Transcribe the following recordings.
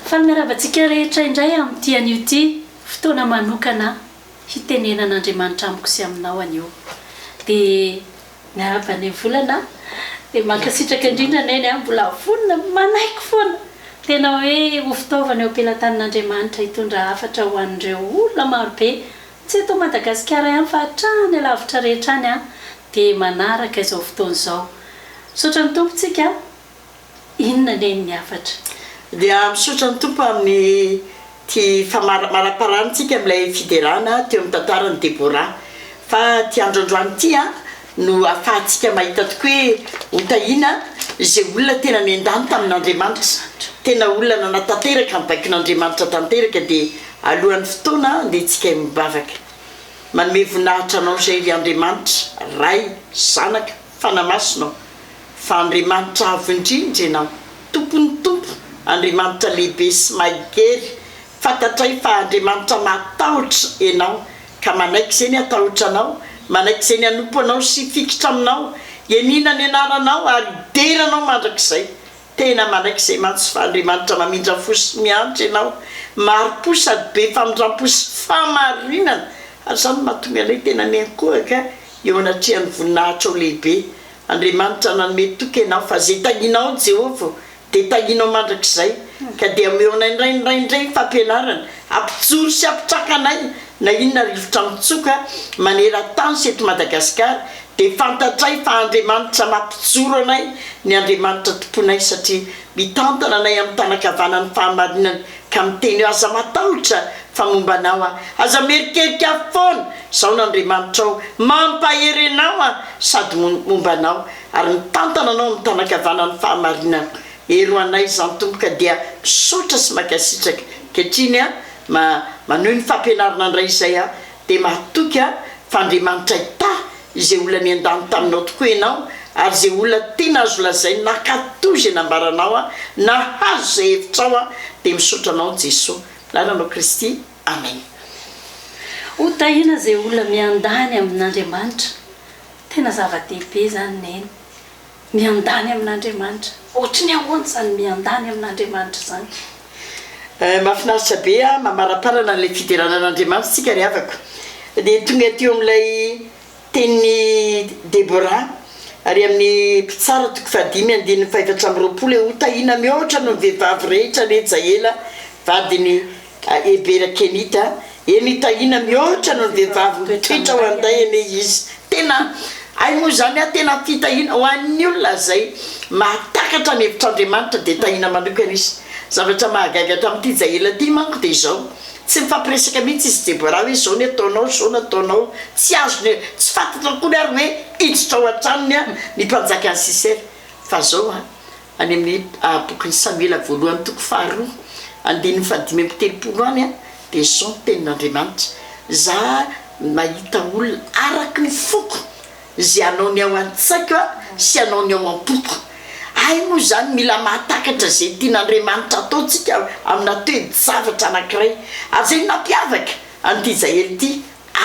Faminarava antsika rehetra indray amin'ity anio ity, fotoana manokana hitenenan'Andriamanitra amiko sy aminao anio. Dia miarahaba Neny Volana a! Dia mankasitraka indrindra Neny a! Mbola vonona, manaiky foana! Tena hoe ho fitaovana eo am-pelatanan'Andriamanitra hitondra hafatra ho an'ireo olona marobe. Tsy eto Madagasikara ihany fa hatrany alavitra rehetra any an, dia manaraka izao fotoana izao. Misaotra ny Tompo tsika a! Inona anie ny hafatra? Dia misaotra ny Tompo amin'ny ty famaraparantsika amin'ilay fiderana teo amin'ny tantaran'i Deborah. Fa ty androandroany ty an, no hahafahantsika mahita tokoa hoe ho tahiana izay olona tena nendany tamin'Andriamanitra izany. Tena olona nanatanteraka ny baikon'Andriamanitra tanteraka dia alohan'ny fotoana andehantsika hivavaka. Manome voninahitra anao izay ry Andriamanitra, Ray, Zanaka, Fanahy Masina ô, fa Andriamanitra avo indrindra ianao, Tompon'ny Tompo, Andriamanitra lehibe sy mahery Fantatray fa Andriamanitra mahatahotra enao ka manaiky ze ny atahotra anao, manaiky ze ny anompo anao sy hifikitra aminao, ianiana ny anaranao ary hidera anao mandrakizay. Tena manaiky izay mantsy fa Andriamanitra mamindra fo sy miantra enao, mari-po sady be famindram-po sy fahamarinana ary izany no mahatonga anay tena miankohaka eo anatrehan'ny voninahitrao lehibe. Andriamanitra nanome toky enao fa ze tahinao Jehovah dia tahinao mandrakizay, ka dia ameo anay indray indray indray ny fampianarana, ampijoro sy ampitraka anay na inona rivotra mitsoka maneran-tany sy eto Madagasikara, dia fantatray fa Andriamanitra mampijoro anay ny Andriamanitra tomponay satria mitantana anay amin'ny tanan-kavanan'ny fahamarinany ka miteny hoe aza matahotra fa momba anao aho, aza mierikerika aho foana, izaho no Andriamanitrao, mampahery anao aho sady momba anao. ary mitantana anao ny tanakavanan'ny fahamarinana ero anay izany Tompo ka dia misaotra sy makasitraka ankehitriny a ma manohy ny fampianarana ndray izay a dia mahatoky a fa Andriamanitra hitahy izay olona niandany taminao tokoa ianao ary izay olona tena azo lazaina nankatò izay nambaranao a nahazo izay hevitrao a dia misaotra anao Jeso anaranao Kristy Amen. Ho tahiana izay olona miandany amin'Andriamanitra Tena zava-dehibe izany Neny. Miandany amin'Andriamanitra. Ohatry ny ahoana izany miandany amin'Andriamanitra izany? Eh, mahafinaritra be an! Mamaraparana an'ilay fiderana an'Andriamanitra isika ry havako. Dia tonga teo amin'ilay tenin'i Deborah ary amin'ny Mpitsara toko fahadimy andininy fahefatra amby roapolo hoe, Ho tahiana mihoatra noho ny vehivavy rehetra anie Jaela vadin'i Hebera Kenita, Eny Tahiana mihoatra noho ny vehivavy mitoetra ho an'day anie izy. Tena hay moa izany an, tena fitahiana ho an'ny olona izay mahatakatra ny hevitr'Andriamanitra dia tahiana manokana izy. Zavatra mahagaga tamin'ity izay ela ity manko dia izao, tsy nifampiresaka mihitsy izy sy Deborah hoe izao ny ataonao, izao no ataonao, tsy azony, tsy fantatrao akory ary hoe hiditra ao an-tranony ny mpanjakan'i Sisera fa izao an, Any amin'ny bokin'i Samoela voalohany toko faharoa andininy fahadimy amby telopolo any dia izao ny tenin'Andriamanitra, Za nahita olona araky ny foko izay hanao ny ao an-tsaiko sy hanao ny ao am-poko. Hay moa izany mila mahatakatra izay tian'Andriamanitra hataontsika amina toe-javatra anankiray. Ary izay no nampiavaka an'ity Jael ity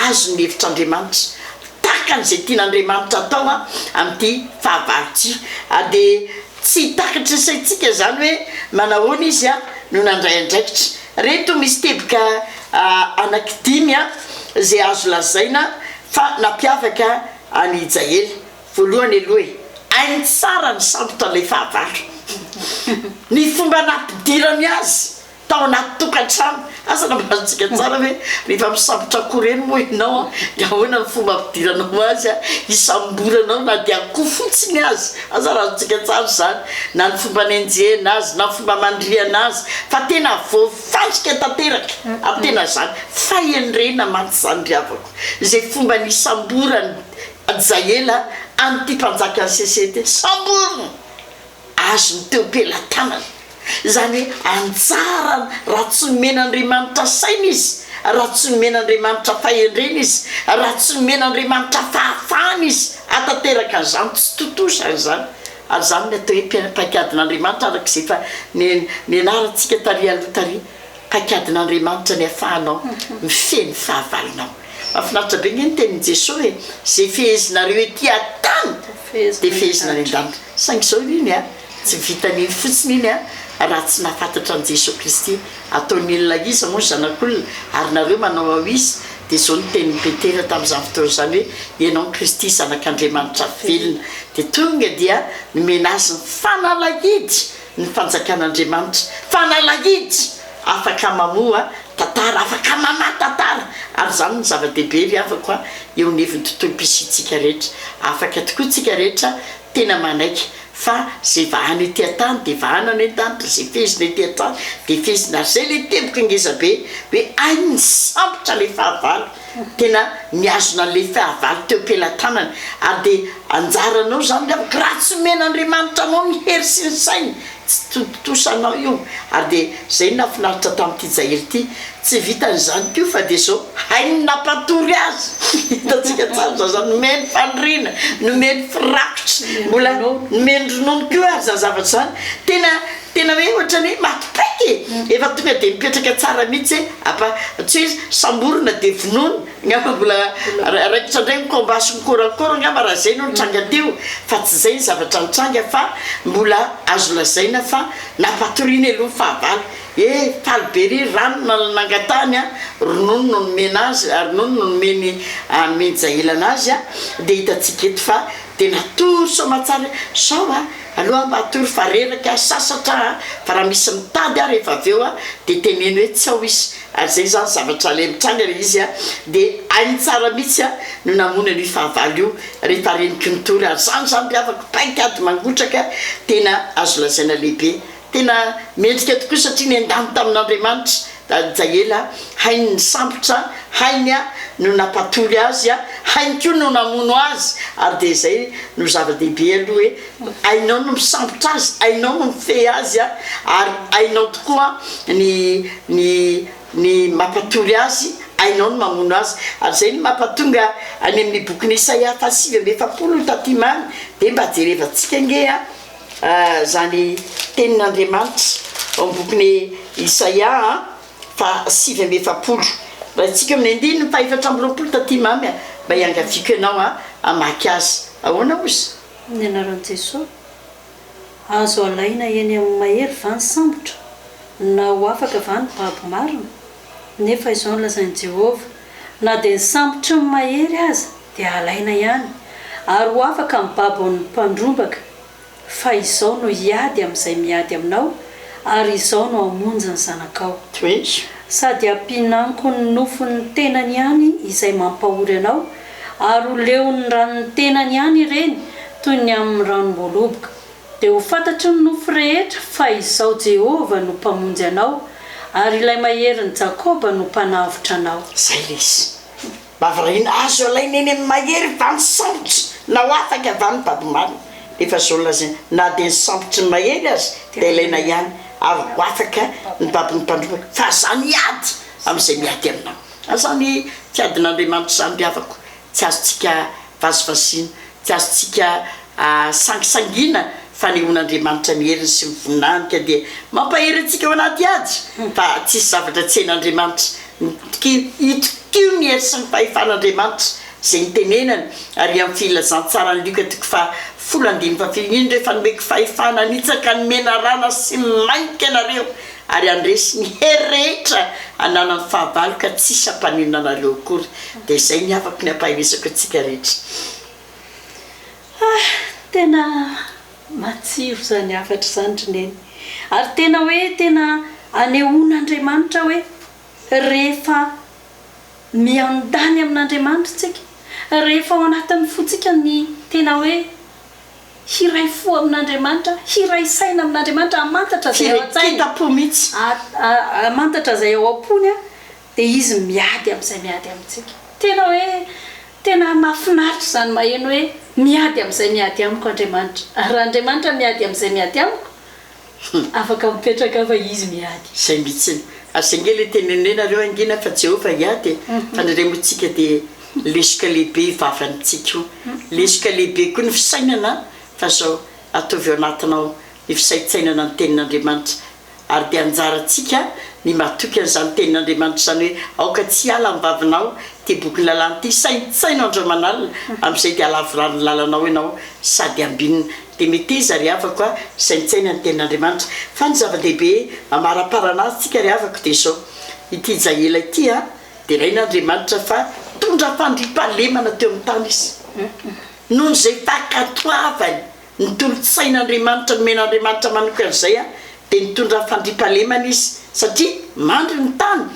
Azo ny hevitr'Andriamanitra. Takany izay tian'Andriamanitra atao amin'ity fahavalo ity. Ary dia tsy takatry ny saintsika izany hoe manahoana Izy no nandray andraikitra. Ireto misy teboka anankidimy izay azo lazaina fa nampiavaka an'i Hijaely. Voalohany aloha e. Hainy tsara ny sambotra ilay fahavalo. Ny fomba nampidirany azy. Tao anaty tokantrano, asa nambarantsika tsara ve? Mifampisambotra akoho ireny moa ianao an? Dia ahoana ny fomba ampidiranao azy an? Hisamboranao na dia akoho fotsiny aza, asa razantsika tsara izany, na ny fomba anenjehina azy, na ny fomba amandrihana azy, fa tena voafandrika tanteraka ary tena izany fahendrena mantsy izany ry havako, izay fomba nisamboran'i Jael an'ity mpanjakan'i Sesete, samborina! azony teo am-pelatanany. Izany hoe anjarany raha tsy nomen'Andriamanitra saina izy, raha tsy nomen'Andriamanitra fahendrena izy, raha tsy nomen'Andriamanitra fahafahana izy hahatanteraka an'izany, tsy tontosa izany. Ary izany no atao hoe paikadin'Andriamanitra araka izay efa nianarantsika tary aloha tary. Paikadin'Andriamanitra ny afahanao mifehy ny fahavalonao. Mafinaritra be nge ny tenin'i Jeso e, ze fehezinareo ety atany de fehezina any andanitra. Saingy zao iny a, tsy vitan'iny fotsiny iny a, raha tsy nahafantatra an'i Jeso Kristy. Ataon'ny olona iza moa ny zanak'olona ary nareo manao ao iza? De zao ny tenin'i Petera tamin'izany fotoana zany hoe, ianao no Kristy zanak'Andriamanitra velona. De tonga dia nomena azy ny fanalahidy. ny fanjakan'Andriamanitra, fanalahidy afaka mamoha tantara, afaka mamaha tantara, ary izany no zava-dehibe ry havako a, eo anivon'ny tontolom-pisiantsika rehetra, afaka tokoa tsika rehetra tena manaiky fa izay vahana ety an-tany dia vahana any an-tany, dia izay fehezina ety an-tany dia fehezina, ary izay ilay teboka ngezabe hoe hay misambotra ilay fahavalo, Tena mihazona an'ilay fahavalo teo am-pelatanany, ary dia anjaranao izany ny amiko, raha tsy omen'Andriamanitra anao ny hery sy ny sainy, tsy tontosa anao io. Ary dia izay no nahafinaritra tamin'ity Jael ity, tsy vitany izany koa fa dia izao, hainy ny nampatory azy, hitantsika tsara izany, izany nomeny faniriana, nomeny firakotra, mbola nomeny ronono koa ary izany zavatra izany, tena. Tena hoe ohatrany hoe maty paika e! Efa tonga dia mipetraka tsara mihitsy hoe apa, tsy hoe samborina dia vonoina, angamba mbola raikitra indray ny combat sy ny corps-à-corps angamba raha izay no nitranga teo fa tsy izay ny zavatra nitranga fa mbola azo lazaina fa nampatoriany aloha ny fahavalo e! Faly be ery rano na nangatahany an! Ronono no nomena azy, ronono no nomen'i Aminjaelana azy an! Dia hitantsika eto fa dia natory soamantsara hoe sao an! Aleo aho mba hatory fa reraka aho, sasatra aho fa raha misy mitady aho rehefa avy eo dia teneno hoe tsy ao izy ary izay izany zavatra ilay mitranga ilay izy dia hainy tsara mihitsy aho no namono an'io fahavalo io rehefa reniko nitory ary izany izany ry havako paik'ady mangotraka tena azo lazaina lehibe Tena mendrika tokoa satria nendany tamin'Andriamanitra Dady Jaela, hainy ny sambotra, hainy no nampatory azy, hainy koa no namono azy ary dia izay no zava-dehibe aloha hoe hainao no misambotra azy, hainao no mifehy azy ary hainao tokoa ny ny ny mampatory azy, hainao ny mamono azy ary izay no mampatonga any amin'ny bokin'i Isaia faha sivy amby efapolo taty many dia mba jerevantsika ange a! Izany tenin'Andriamanitra ao amin'ny bokin'i Isaia fahasivy amby efapolo. Raisitsika amin'ny andininy fahefatra amby roapolo taty Mamy a! Mba iangaviako ianao hamaky azy. Ahoana ozy? Ny anaran'i Jesoa? Azo alaina eny amin'ny mahery va ny sambotra? Na ho afaka va ny babo marina? Nefa izao no lazain'i Jehovah, Na dia ny sambotry ny mahery aza dia halaina ihany, ary ho afaka ny babon'ny mpandrombaka, fa izao no hiady amin'izay miady aminao, ary izao no hamonjy ny zanakao. Toezo. Sady hampihinanko ny nofon'ny tenany ihany izay mampahory anao, ary ho leon'ny ranon'ny tenany ihany ireny toy ny amin'ny ranom-boaloboka. Dia ho fantatry ny nofo rehetra fa Izaho Jehovah no Mpamonjy anao, ary Ilay Maherin'i Jakoba no Mpanavotra anao. Izay ilay izy. Mba variana, azo alaina eny amin'ny mahery va ny sambotry na ho afaka va ny babo marina? Efa izao no lazaina, na dia ny sambotry ny mahery aza dia alaina ihany, ary ho afaka ny babon'ny mpandroba, fa aza miady amin'izay miady aminao. Izany tiadin'Andriamanitra izany ry havako, tsy azontsika vazivazina, tsy azontsika sangisangiana fanehoana Andriamanitra ny heriny sy ny voninahiny ka dia mampahery antsika ao anaty ady fa tsisy zavatra tsy hen'Andriamanitra Mitokia hitokio ny hery sy ny fahefan'Andriamanitra izay nitenenany ary amin'ny filazantsaran'i Lioka toko faha folo andininy faha filo Indro efa nomeko fahefana hanitsaka ny menarana sy ny mainka ianareo ary handresy ny hery rehetra hananany fahavalo ka tsisy hampaninona anareo akory dia zay ny havako ny ampaherezako antsika rehetra ah tena matsiro zany hafatra zany ry neny ary tena hoe tena anehoana Andriamanitra hoe rehefa miandany amin'Andriamanitra tsika rehefa ao anatin'ny fontsika ny tena hoe Hiray fo amin'Andriamanitra, hiray saina amin'Andriamanitra, hamantatra izay ao an-tsainy. Hiray kita-po mihitsy. Hamantatra izay ao am-pony, dia Izy miady amin'izay miady amintsika. Tena hoe, tena mahafinaritra izany maheno hoe, miady amin'izay miady amiko Andriamanitra. Ary raha Andriamanitra miady amin'izay miady amiko, Afaka mipetraka fa Izy miady. Izay mihitsiny. Aza ange le tenenenareo hangina fa Jehovah hiady e! Fa ny iray moa tsika dia lesoka lehibe io vavany tsika io. Lesoka lehibe koa ny fisainana fa zao ataovy ao anatinao ny fisaintsainana ny tenin'Andriamanitra. Ary dia anjarantsika ny matoky an'izany tenin'Andriamanitra izany hoe aoka tsy hiala amin'ny vavinao ity bokin'ny lalàna ity, saintsaino andro aman'alina, amin'izay dia halavorary ny lalanao ianao sady hambinina. Dia meteza ry havako a, saintsaina ny tenin'Andriamanitra. Fa ny zava-dehibe amaraparana azy tsika ry havako dia izao, ity Jaela ity a, deraina Andriamanitra fa nitondra fandriampahalemana teo amin'ny tany izy, noho izay fankatoavany ny tolo-tsain'Andriamanitra nomen'Andriamanitra manokana izay a, dia nitondra fandriampahalemana izy satria mandry ny tany,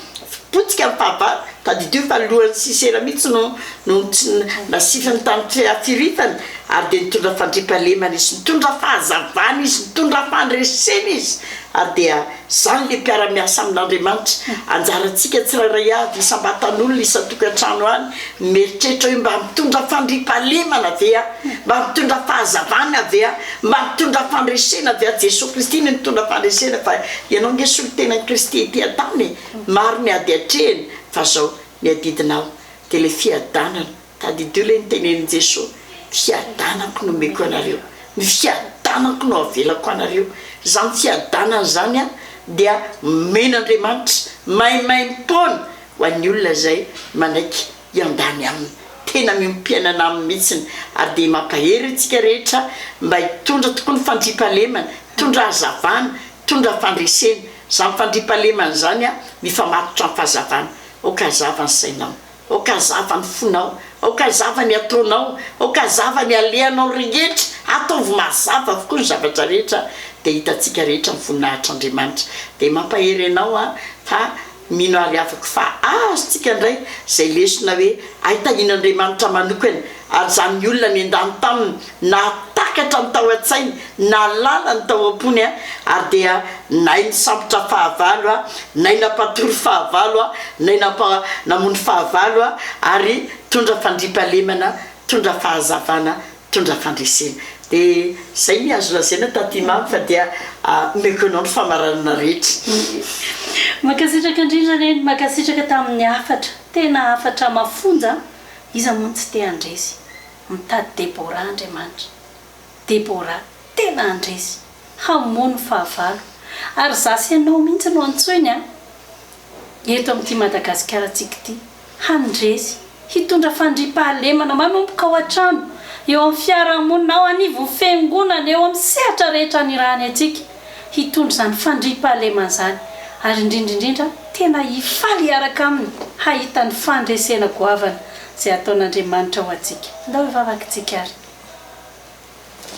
potika ny fahavalo, tadidio fa lohan'i Sisera mihitsy no no tsy nasiviny tany fiafiritany, ary dia nitondra fandriampahalemana izy, nitondra fahazavana izy, nitondra fandresena izy, ary dia izany ilay mpiara-miasa amin'Andriamanitra, anjarantsika tsirairay avy isam-batan'olona, isan-tokantrano any, mieritreritra hoe mba mitondra fandriampahalemana ve aho? Mba mitondra fahazavana ve aho? Mba nitondra fandresena dia Jesoa Kristy no nitondra fandresena fa ianao ange solontenan'i Kristy ety an-tany e! Maro ny ady atrehina fa zao ny adidinao dia ilay fiadanana, tadidio ilay nitenenin'i Jesoa, fiadanako no omeko anareo, ny fiadanako no avelako anareo, izany fiadanana izany an dia omen'Andriamanitra maimaimpoana ho an'ny olona izay manaiky hiambany aminy. Tena miombom-piainana aminy mihitsiny ary dia mampahery antsika rehetra mba hitondra tokoa ny fandriampahalemana, hitondra hazavana, hitondra fandresena. Izany fandriampahalemana izany mifamatotra amin'ny fahazavana. Aoka hazava ny sainao, aoka hazava ny fonao, aoka hazava ny ataonao, aoka hazava ny alehanao rehetra, ataovy mazava avokoa ny zavatra rehetra dia hitantsika rehetra ny voninahitr'Andriamanitra. Dia mampahery anao aho fa Mino ary avoko fa azontsika indray izay lesona hoe hay tahian'Andriamanitra manokana ary izany olona nendany taminy nahatakatra ny tao an-tsainy, nahalala ny tao am-pony ary dia nay nisambotra fahavalo, nay nampatory fahavalo, nay nampa namono fahavalo ary tondra fandriampahalemana, tondra fahazavana mpitondra fandresena. Dia izay ny azo lazaina taty mamy fa dia omeko anao ny famaranana rehetra. Mankasitraka indrindra Neny, mankasitraka tamin'ny hafatra, tena hafatra mafonja an! Iza moa no tsy te handresy? Mitady Deborah Andriamanitra. Deborah tena handresy, hamono fahavalo. Ary za sy ianao mihitsy no antsoiny an! eto amin'ity Madagasikarantsika ity, handresy, hitondra fandriampahalemana manomboka ao an-trano, eo amin'ny fiarahamonina, ao anivon'ny Fiangonana, eo amin'ny sehatra rehetra anirahany antsika, hitondra izany fandriampahalemana izany, ary indrindra indrindra tena hifaly hiaraka Aminy, hahita ny fandresena goavana izay ataon'Andriamanitra ho antsika. Ndao hivavaka isika ary.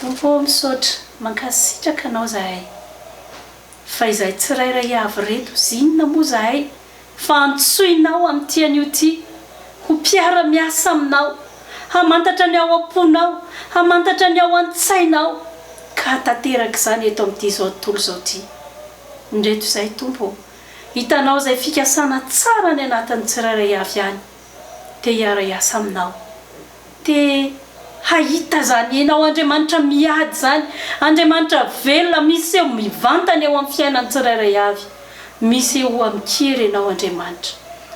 Tompo ô, misaotra, mankasitraka Anao izahay. Fa izahay tsirairay avy ireto sy inona moa izahay fa antsoinao amin'ity anio ity ho mpiara-miasa aminao, hamantatra ny ao am-ponao, hamantatra ny ao an-tsainao, ka hantanteraka izany eto amin'ity izao tontolo izao ity. Indreto izay, Tompo ô, hitanao izay fikasana tsara any anatin'ny tsirairay avy any, te hiara-hiasa aminao. Te hahita izany henao Andriamanitra miady izany, Andriamanitra velona miseho mivantana eo amin'ny fiainan'ny tsirairay avy. Misehoa amin-kery ianao Andriamanitra.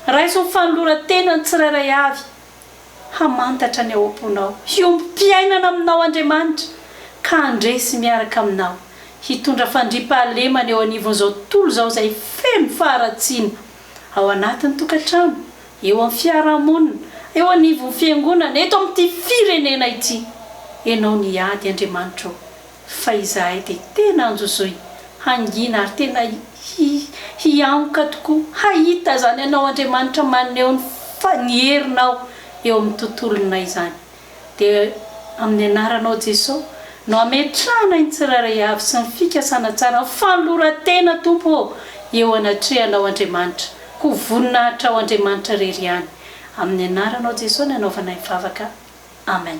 Raiso ny fanoloran-tena ny tsirairay avy hamantatra ny ao am-ponao. Hiombom-piainana aminao Andriamanitra ka handresy miaraka aminao. Hitondra fandriam-pahalemana eo anivon'izao tontolo izao izay feno faharatsiana ao anatin'ny tokantrano, eo amin'ny fiarahamonina, eo anivon'ny fiangonana, eto amin'ity firenena ity. Ianao no hiady, Andriamanitra ô, fa izahay dia tena anjozoy, hangina ary tena hiangoka tokoa hahita izany Anao Andriamanitra maneho ny herinao eo amin'ny tontolonay izany. dia amin'ny anaranao Jeso no ametrahana ny tsirairay avy sy ny fikasana tsara ny fanoloran-tena Tompo ô eo anatrehanao Andriamanitra koa voninahitra ho Andriamanitra irery ihany amin'ny anaranao Jeso no anaovana ny vavaka Amen.